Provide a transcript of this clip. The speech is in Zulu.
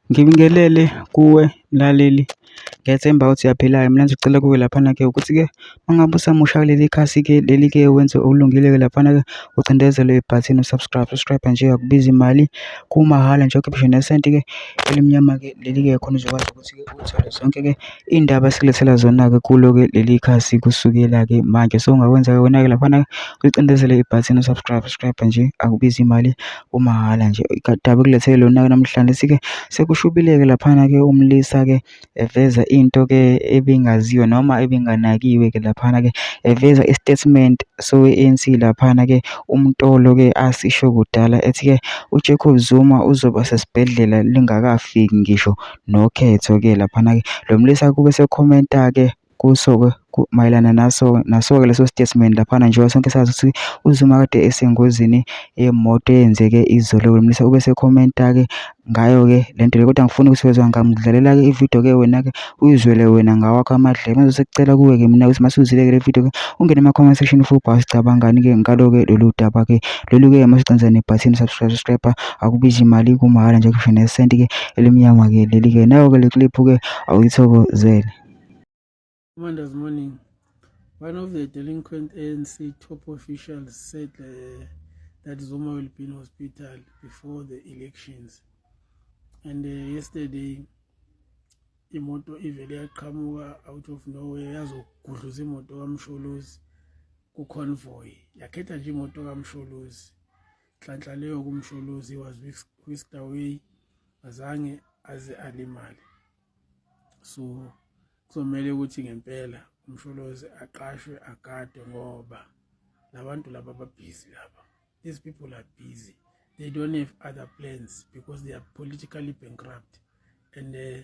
Ngibingelele kuwe mlaleli, ngethemba ukuthi uyaphila-ke. Mina nje cela kuwe laphana-ke ukuthi-ke uma ngabe usamusha kuleli khasi-ke leli-ke wenze okulungile-ke laphana-ke ucindezele ibhathini u-subscribe, subscribe nje akubizi mali kumahhala nje, awukhiphi ngisho nesenti-ke elimnyama-ke leli-ke khona uzokwazi ukuthi-ke uthole zonke-ke. Iy'ndaba esilethela zona-ke kulo-ke leli khasi kusukela-ke manje. So, ungakwenza-ke wena-ke laphana ulicindezele ibhathini u-subscribe, subscribe nje akubizi imali kumahhala nje. Udaba ekulethele lona-ke namhlanje sithi-ke sekushubile-ke laphana-ke umlisa-ke eveza into-ke ebingaziwa noma ebinganakiwe-ke laphana-ke eveza i-statement sowe-ANC laphana-ke umtolo-ke asisho kudala ethi-ke uJacob Zuma uzoba sesibhedlela lingakafiki ngisho nokhetho-ke laphana-ke. Lo mlisa kube sekhomenta-ke kuso-ke mayelana naso naso-ke leso statement laphana njengoba sonke sazi ukuthi uZuma kade esengozini yemoto eyenzeke izolo. Lo mlisa ube sekhomenta-ke ngayo-ke le nto le kodwa angifuni ukuthi wezwa ngamdlalela-ke ividiyo-ke wena-ke uyizwele wena ngawakho amadlebe. Manje sekucela kuwe-ke mina ukuthi mase uzile-ke le vidiyo-ke ungene ema-comment section ufubha sicabangani-ke ngalo-ke lolu daba-ke lolu-ke mase ugcina nebhathini subscribe subscribe. akubishi mali kumahhala nje kusho nesenti ke elimnyama ke leli ke nayo ke le clip ke awuyithokozele Commanders morning one of the delinquent ANC top officials said uh, that Zuma will be in hospital before the elections and uh, yesterday imoto ivele yaqhamuka out of nowhere yazogudluza imoto kamsholozi ku-convoy yakhetha nje imoto kamsholozi nhlanhla leyo kumsholozi was whisked away azange aze alimale so kuzomele ukuthi ngempela umsholozi aqashwe agadwe ngoba labantu laba babhizi laba these people are busy they don't have other plans because they are politically bankrupt and uh,